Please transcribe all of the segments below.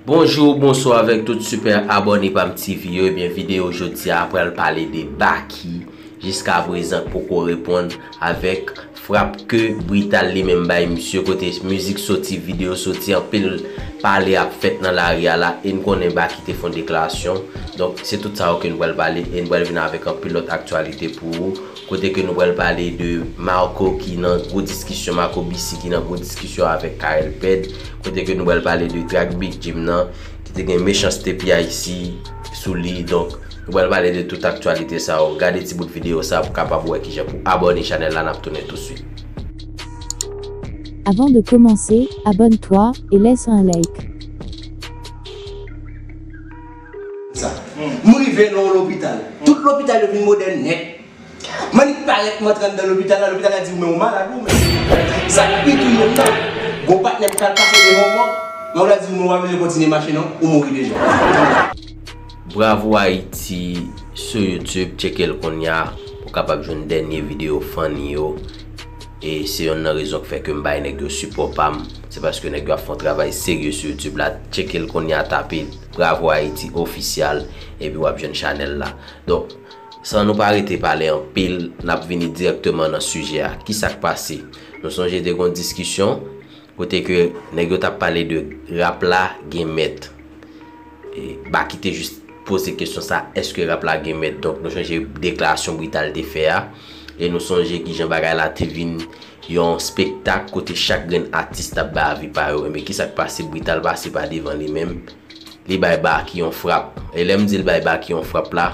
Bonjour, bonsoir avèk tout super abonné pam TV yo. Ebyen eh videyo jodi a pral pale de Baky jiska prezan poko reponn Avèk frap ke brital li menm bay misye kote mizik soti, video soti anpil pale ap fèt nan lari a la e n konnen Baky te fon deklarasyon. Donk se tout sa yo ke nou pral pale e n pral vin avèk anpil lòt aktyalite pou ou kote ke nou pral pale de Marco ki nan gwo diskisyon, Marco BC ki nan gwo diskisyon avèk Carel Pèd kote ke nou pral pale de trak Big Jim nan. ki te gen mechanste piayisi sou li donk nou pral pale de tout aktyalite sa yo gade ti bout video sa pou kapab wè kijan pou abòne chanèl la nap tounen tou swit. Avant de commencer, abonne toi et laisse un like. Sa. Nou rive nan yon lopital. Tout lopital yo vin modèn nèt. Manick parèt m antre anndan lopital la, lopital la di w men w malad ou men se pou w pran trètman. Sa k pi touye m nan, gon patnè m pral pase devan w mòg, men w la di w men w pa bezwen kontinye mache non, ou mouri deja. Bravo Haïti sou YouTube tchekel kounya pou kapab jwenn dènye video funny yo e se yonn nan rezon ki fè kem bay nèg yo sipò pam se paske nèg yo ap fon travay serye sou YouTube la tchekel kounya tape bravo Haïti official epi wap jwenn chanèl la donk San nou pa rete pale anpil, n ap vini dirèkteman nan sijè a. Ki sa k pase? Nou sonje te gon diskisyon kote ke nèg yo t ap pale de rap la gen mèt. Baky te jis poze kesyon sa, èske rap la gen mèt? Donk nou sonje deklarasyon Brital te fè a. E nou sonje kijan bagay la te vin yon spektak kote chak grenn atis t ap bay avi pa yo. Enben ki sa k pase? Brital pase pa devan li menm. li bay Baky yon frap. E lè m di l bay Baky yon frap la,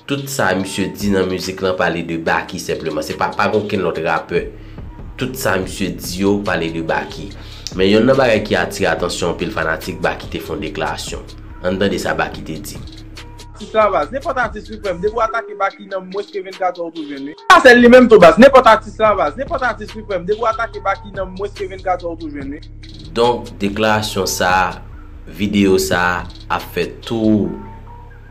tout sa misye di nan mizik lan pale de Baky senpleman. Se pa, pa gen okenn lòt rapè. Tout sa misye di yo pale de Baky. Men yonn nan bagay ki atire atansyon anpil fanatik, Baky te fè yon deklarasyon. Ann tande sa Baky te di. Ti travas, nenpòt atis wi frèm, depi w atake Baky nan mwens ke 24 è ou tou jwenn wi. Sa sèl li menm tou baz, nenpòt atis travas, nenpòt atis wi frèm, depi w atake Baky nan mwens ke 24 è ou tou jwenn wi. Donk deklarasyon sa a, videyo sa a ap fè tou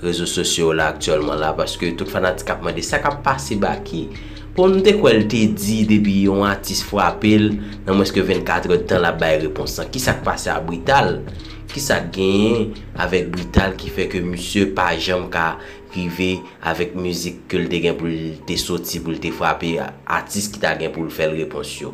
rezo sosyo yo la aktyèlman la paske tout fanatik ap mande sa k ap pase Baky. Bon m te kwè l te di depi yon atis frape l nan mwens ke 24 èd tan l ap bay repons lan. Kisa k pase a Brital? Kisa k genyen avèk Brital ki fè ke misye pa janm ka rive avèk mizik ke l te gen pou l te soti pou l te frape atis ki ta gen pou l fè l repons yo?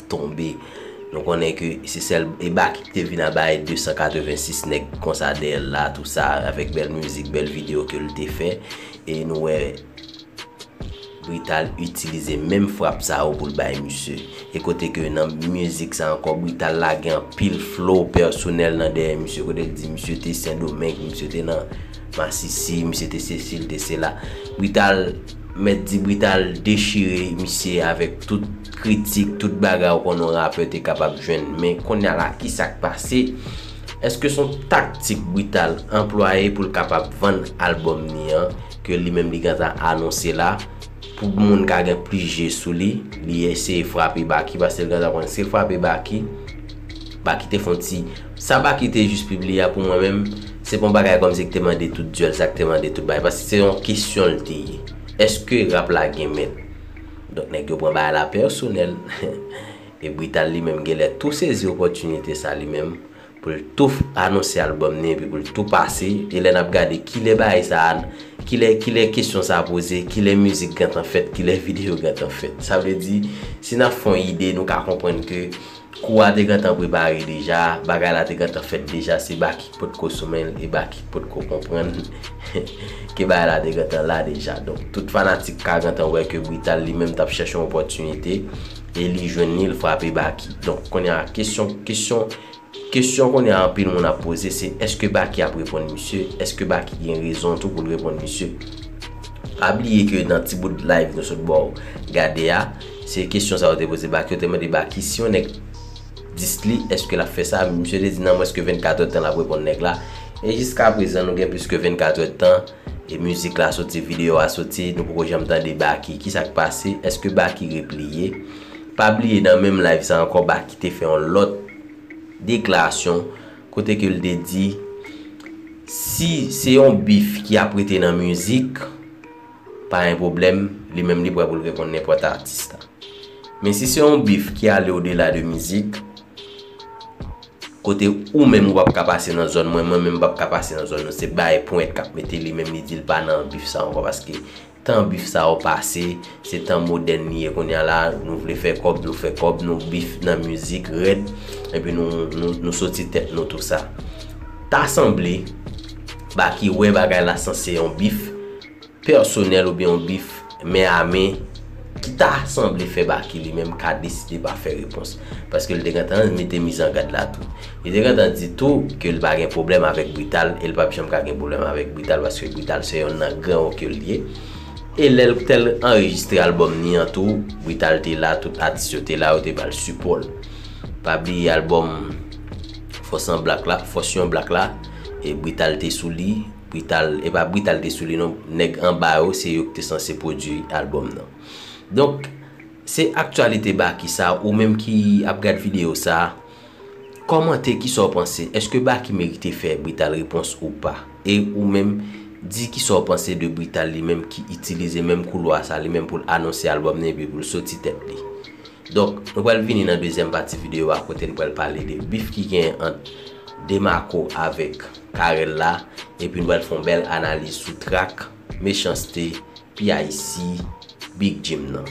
tonbe nou konnen ke se sèl e Baky ki te vin a bay 286 nèg konsa dèyè l la tou sa avèk bèl mizik bèl video ke l te fè e nou wè Brital itilize menm frap sa yo pou l bay misye e kote ke nan mizik sa ankò Brital lage anpil flow pèsonèl nan dèyè misye kote l di misye te sendomeng misye te nan masisi misye te sesi l te sela Brital mèt di Brital dechire misye avèk tout kritik, tout bagay ou konnen yon rapè te kapab jwenn men konnya la kisa k pase? Eske son taktik Brital anplwaye pou l kapab vann album ni an ke li menm li gentan anonse la pou moun ka gen plis je sou li, li eseye frape Baky paske l gentan konnen si l frape Baky, Baky te fon ti sa Baky te jis pibliye a pou mwen menm se pa yon bagay kòm si k te mande tout dyòl sa k te mande tout bagay paske se yon kesyon l te ye eske rap la gen mèt? Donk nèg yo pran bagay la pèsonèl e Brital li menm genlè tou sezi opòtinite sa li menm pou l tou anonse albòm ni epi pou l tou pase e lè n ap gade kilè bagay sa kilè kilè kesyon sa poze kilè mizik gentan fèt kilè videyo gentan fèt sa vle di si n ap fè yon ide nou ka konprann ke Kou a te gentan prepare deja, bagay la te gentan fèt deja se Baky ki potko sou men l e Baky ki potko konprann ke bagay la te gentan la deja. Donk tout fanatik ka gentan wè ke Brital li menm t ap chèche yon opòtinite e li jwenn li, li frape Baky. Donk kounye a kesyon, kesyon, kesyon kounye a anpil moun ap poze se èske Baky ap reponn misye, èske Baky gen rezon tou pou l reponn misye. Pa bliye ke nan ti bout live nou sot ba w gade a, Se kesyon sa yo te poze Baky, yo te mande Baky si yon nèg dis li eske lap fè sa, misye te di nan mwens ke 24 èd tan lap reponn nèg la, e jiska prezan nou gen plis ke 24 èd tan e mizik la soti, video a soti, nou poko janm tande Baky, kisak pase, eske Baky repliye, pa bliye nan menm live sa ankò Baky te fè yon lòt deklarasyon kote ke li te di si se yon bif ki ap rete nan mizik. Pa gen pwoblèm, li menm li prè pou l reponn nenpòt atis la. Men si se yon bif ki ale odela de mizik, kote ou menm ou p ap ka pase nan zòn mwen, mwen menm m p ap ka pase nan zòn nou, se Bae Pwent k ap mete li menm li di l pa nan bif sa ankò paske tan bif sa yo pase, se tan modèn li ye kounya la, nou vle fè kòb, nou fè kòb, nou bif nan mizik rèd, epi nou soti tèt nou tou sa. Ta sanble, Baky wè bagay la sanse yon bif, pèsonèl oubyen yon bif men a men ki ta sanble fè Baky li menm ka deside pa fè repons paske li te gentan mete mizangad la tou. Li te gentan di tou ke li pa gen pwoblèm avèk Brital e li pap janm ka gen pwoblèm avèk Brital paske Brital se yonn nan gran yo ke li ye. E lè li te al anrejistre albòm li an tou, Brital te la, tout atis yo te la, yo te ba l sipò l. Pa bliye albòm Fòs an Blak la, Fòs yon Blak la, Brital te sou li. Brital, e pa Brital te sou li non, nèg anba yo se yo ki te sanse pwodui albòm nan. Donk, se aktyalite Baky sa, ou menm ki ap gad videyo sa, kòmante ki sa w panse, èske Baky merite fè Brital repons ou pa? E ou menm, di ki sa w panse de Brital li menm ki itilize menm koulwa sa li menm pou l anonse albòm nan epi pou l soti tèt li? Donk, nou pral vini nan dezyèm pati videyo a kote n pral pale de bif ki genyen ant Demako avèk Carel la, epi n pral fè yon bèl analiz sou trak Mechanste, PIC, Big Jim nan.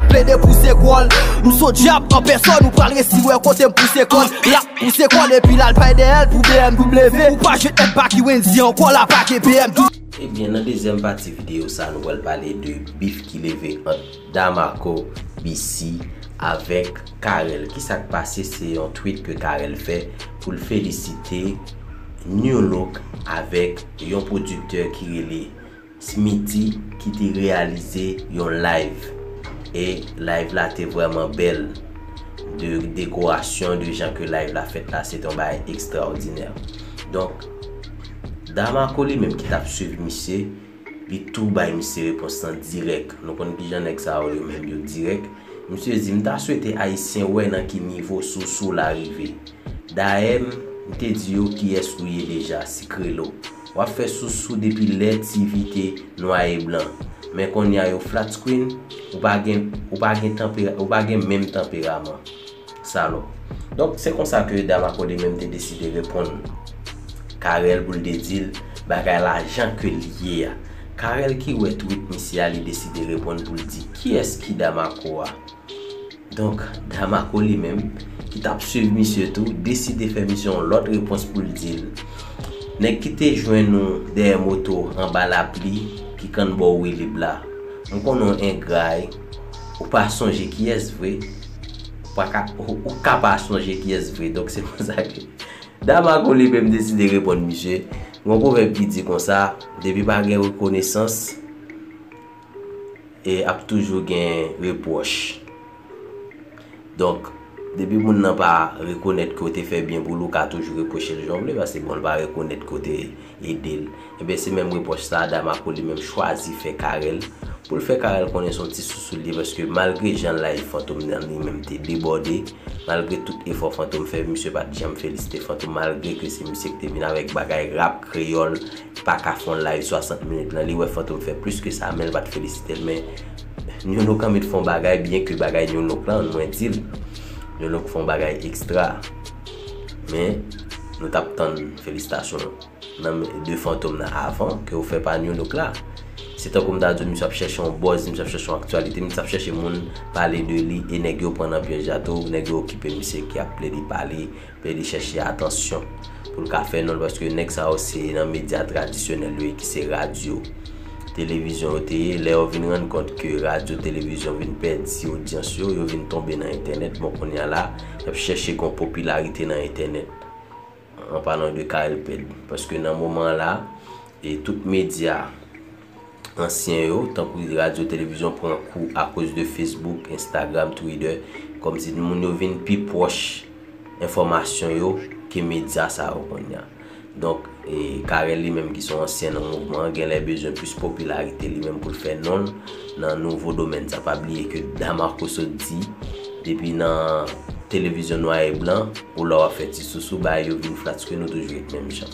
Plede pouse kòl, m son dyab an pèsòn Ou pral resi wè kote m pouse kòl L'ap pouse kòl epi l'al bay dèyèl pou BMW Ou pa jwenn èd Baky Wendyy ankò la pa gen BMW. Ebyen nan dezyèm pati videyo sa nou pral pale de bif ki leve ant. Damarco BC avèk Carel kisak pase se yon tweet ke Carel fè pou l felisite Nu-Look avèk yon pwodiktè ki rele Smitty ki te reyalize yon live e live la te vrèman bèl de dekorasyon de jan ke live la fèt la se te yon bagay ekstraòdinè donk Damarco li menm ki tap swiv misye Li tou bay misye repons lan dirèk. Nou konn kijan nèg sa yo yo menm yo dirèk. Misye di, m ta swete Ayisyen wè nan ki nivo sousou la rive. Dayè m m te di yo kiyès ou ye deja, sikrelo. W ap fè sousou depi lè TV te nwa e blan. Men konnya yo flat screen, ou pa gen ou pa gen tanpera ou pa gen menm tanperaman. Salòp. Donk, se konsa ke dam a kode menm te deside reponn Carel pou l te di l bagay la jan ke l ye a. Carel ki wè twit misye a li deside reponn pou l di kiyès ki dam a ko a. Donk, dam a ko li menm, ki t ap swiv misye tou, deside fè misye yon lòt repons pou l di l, Nèg ki te jwenn ou dèyè moto anba lapli ki kannbò Wilib la. M konnen w engra e. Ou pa sonje kiyès vre. Ou pa ka, ou ka pa sonje kiyès vre. Donk se pou sa ke Damarco li menm deside reponn misye. Gon pwovèb ki di konsa, depi pa gen rekonesans, e ap toujou gen repwòch. Donk, depi moun nan pa rekonèt ke w te fè byen pou l, ou ka toujou repwoche l jan w vle, paske bon l pa rekonèt ke w te ede l. Enben, se menm repwòch sa a Damarco li menm chwazi fè Carel, pou l fè Carel konnen se yon ti sousou l ye, paske malgre jan layif Fantom nan li menm te debòde, malgre tout efò Fantom fè, misye pa t janm felisite Fantom malgre ke se misye ki te vin avèk bagay rap kreyòl, paka fon live 60 minit lan li wè fantom fè plis ke sa menl pat felisitel men Nolo kan met fon bagay byen ke bagay Nolo lan mwen dil Nolo k fon bagay extra men nou tap tann felisitasyon nan men de fantom nan avan ke ou fè pa Nolo k la se tankou m ta diw misye ap chèche yon buzz misye ap chèche yon aktyalite misye ap chèche moun pale de li e nèg yo pran nan pyèj la tou nèg yo okipe misye ki ap plede pale Fè rechèch ya atansyon pou l ka fè non l paske nèg sa yo se nan medya tradisyonèl yo ye ki se radyo, televizyon yo te ye. Lè yo vin rann kont ke radyo, televizyon vin pèdi odyans yo, yo vin tonbe nan entènèt. Bon kounya la, y ap chèche gon popilarite nan entènèt. An palan de Carel Pèd. Paske nan moman la, e tout medya. ansyen yo, tankou di radyo, televizyon pran kou akoz de Facebook, Instagram, Twitter, kòm si moun yo vin pi pwòch enfòmasyon yo ke medya sa yo kounye a. Donk, Carel li menm ki son ansyen nan mouvman an genlè bezwen plis popilarite li menm pou l fè non l nan nouvo domèn sa. Pa bliye ke Damarco sot di, depi nan televizyon nwa e blan, ou la w ap fè ti sousou, bagay yo vin flatske nou toujou ret menm jan.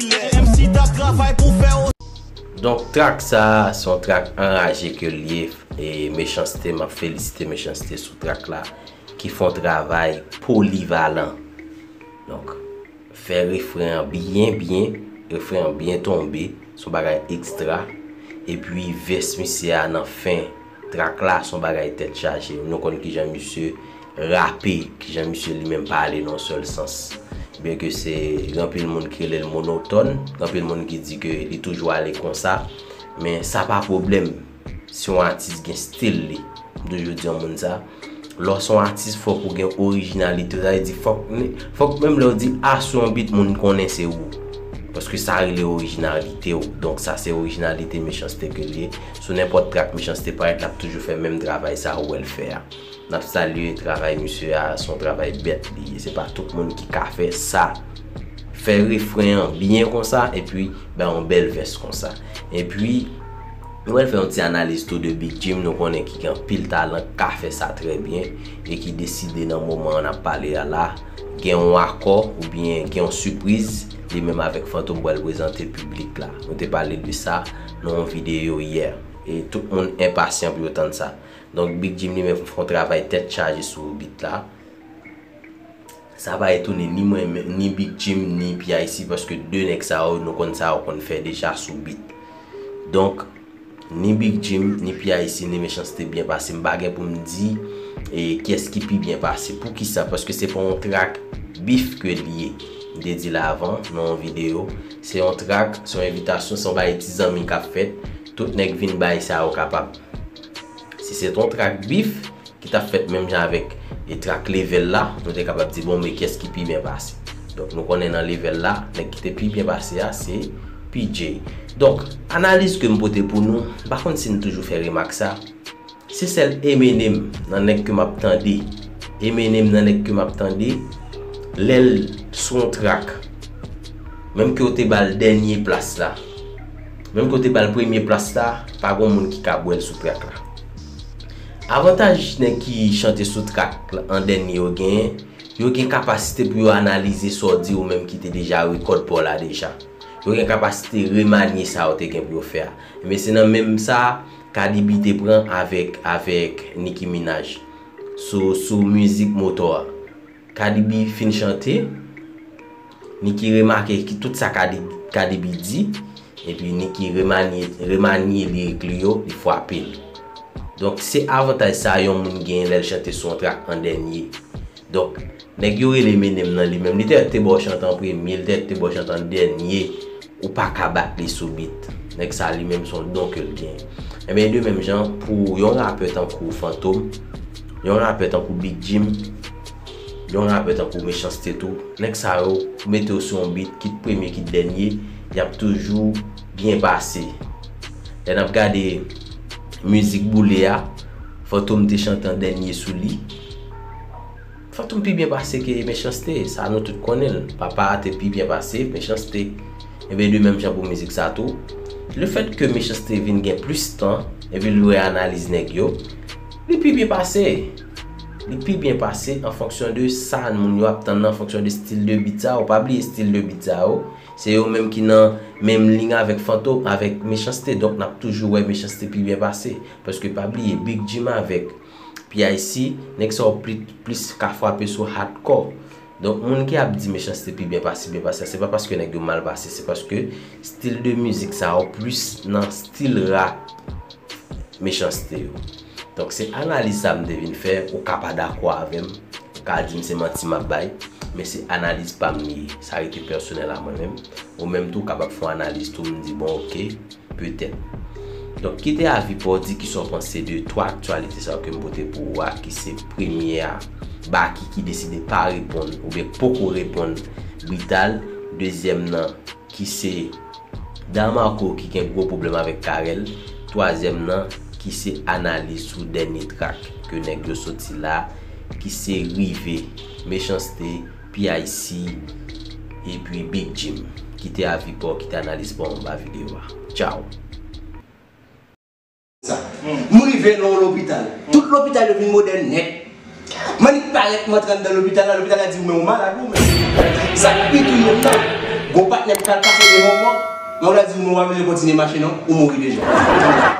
Donk track sa se yon track anraje ke l ye e Mechans-T map felisite Mechans-T sou track la ki fon travay polivalan donk fè refren an byen byen refren an byen tonbe son bagay extra epi vès misye a nan fen. Track la son bagay tèt chaje. Nou konn kijan misye rape, kijan misye li menm pale nan yon sèl sans. Byen ke se gen anpil moun ki rele l monotòn, gen anpil moun ki di ke li toujou ale konsa, men sa pa pwoblèm si yon atis gen stil li. M toujou di yon moun sa. Lè w se yon atis fòk ou gen orijinalite. Sa vle di fòk fòk menm lè w di A sou yon beat moun konnen se ou. Paske sa rele orijinalite w. Donk sa se orijinalite Mechans-T ke l ye. Sou nenpòt trak Mechans-T parèt l ap toujou fè menm travay sa ou wè l fè a. N ap salye travay misye a, se yon travay bèt li ye. Se pa tout moun ki ka fè sa. Fè refren an byen konsa epi bay yon bèl vès konsa. Epi. Nou pral fè yon ti analiz tou de Big Jim nou konnen ki gen anpil talan ki ka fè sa trè byen e ki deside nan moman an ap pale a la gen yon akò oubyen gen yon sipriz li menm avèk Fantom pral prezante piblik la. Nou te pale de sa nan yon videyo yè e tout moun enpasyan pou yo tann sa. Donk Big Jim li menm fè yon travay tèt chaje sou bit la. Sa pa etone ni mwen menm, ni Big Jim, ni PIC paske 2 nèg sa yo nou konn sa yo konn fè deja sou beat. Donk, ni Big Jim, ni PIC, ni Mechanste byen pase. M pa gen pou m di kyès ki pi byen pase. Poukisa? Paske se pa yon track beef ke l ye. M te di l avan nan yon videyo. Se yon track, se yon envitasyon, se yon bagay ti zanmi k ap fèt. Tout nèg vin bay sa yo kapab. Si se t yon trak bif ki t ap fèt menm jan avèk trak level la, nou te kapab di bon men kyès ki pi byen pase. Donk nou konnen nan level la, nèg ki te pi byen pase a se PJ. Donk, analiz ke m pote pou nou, m pa konn si n toujou fè remak sa, se sèl Eminem nan nèg ke m ap tande, Eminem nan nèg ke m ap tande, lè l sou yon trak, menm ke w te ba l dènye plas la, Menm ke w te bal premye plas la, pa gon moun ki ka bwè l sou trak la. Avantaj nèg ki chante sou trak an dènye yo genyen, yo gen kapasite pou yo analize sa w di ou menm ki te deja rekòd pa w la deja. Yo gen kapasite remanye sa yo te gen pou yo fè a. Enben se nan menm sa Cardi B te pran avèk avèk Nicki Minaj sou sou mizik Motò a. Cardi B fin chante. Niki remake ki tout sa Kadibi di, epi Niki remanye lirik li yo, li fwape l. Donk se avantaj sa yon moun genyen lè l chante sou yon trak an dènye. Donk, nèg yo rele Menem nan li menm, li te mèt te ba w chante an premye, li te mèt te ba w chante an dènye Ou pa ka bat li sou beat. Nèg sa li menm son don ke l gen. Ebyen de menm jan pou yon rapè tankou Fantom, yon rapè tankou Big Jim, yon rapè tankou Mechans-T tou, nèg sa yo ou mete yo sou yon beat kit premye kit dènye, y ap toujou byen pase. Lè n ap gade Mizik Boule a, Fantom te chante an dènye sou li. Fantom pi byen pase ke Mechanste, sa nou tout konnen l. Papa a te pi byen pase Mechanste. Enben de menm jan pou mizik sa tou, le fèt ke Mechanste vin gen plis tan epi l lwe analiz nèg yo, li pi byen pase. Li pi byen pase an fonksyon de sa moun yo ap tann nan, an fonksyon de stil de beat sa yo. Pa bliye stil de beat sa yo, se yo menm ki nan menm ling avèk Fanto, avèk Mechanste. Donk n ap toujou wè Mechanste pi byen pase. Paske pa bliye Big Jim avèk. PIC, nèg sa yo plis ka frape sou hardcore. Donk moun ki ap di Mechanste pi byen pasi, byen pase a, se pa paske nèg yo mal pase, se paske stil de mizik sa yo plis nan stil rap Mechanste yo. Donk se analiz sa m te vin fè, ou ka pa dakò avè m, ou ka di m se manti m ap bay, men se analiz pa m li ye, sa rete pèsonèl a mwen menm. Ou menm tou w kapab fè yon analiz tou, m di bon ok. Petèt. Donk, kite avi pa w di ki sa w panse de 3 aktyalite sa yo ke m pote pou ou a, ki se premye a, Baky ki deside pa reponn oubyen poko reponn Brital, dezyèm nan ki se Da Marco ki gen gwo pwoblèm avèk Carel, twazyèm nan ki se analiz sou dènye trak ke nèg yo soti la ki se Rive, Mechanste, PIC epi Big Jim kite avi paw kite analiz paw anba video a. Tchao! sa. Nou rive nan yon lopital. Tout lopital yo vin modèn nèt. Manik parèt m antre anndan lopital la, lopital la di m men ou malad ou menm. Sa k pi touye m nan, gon patnè m pral pase devan w, mòg la di m men ou pa bezwen kontinye mache non, ou mouri deja.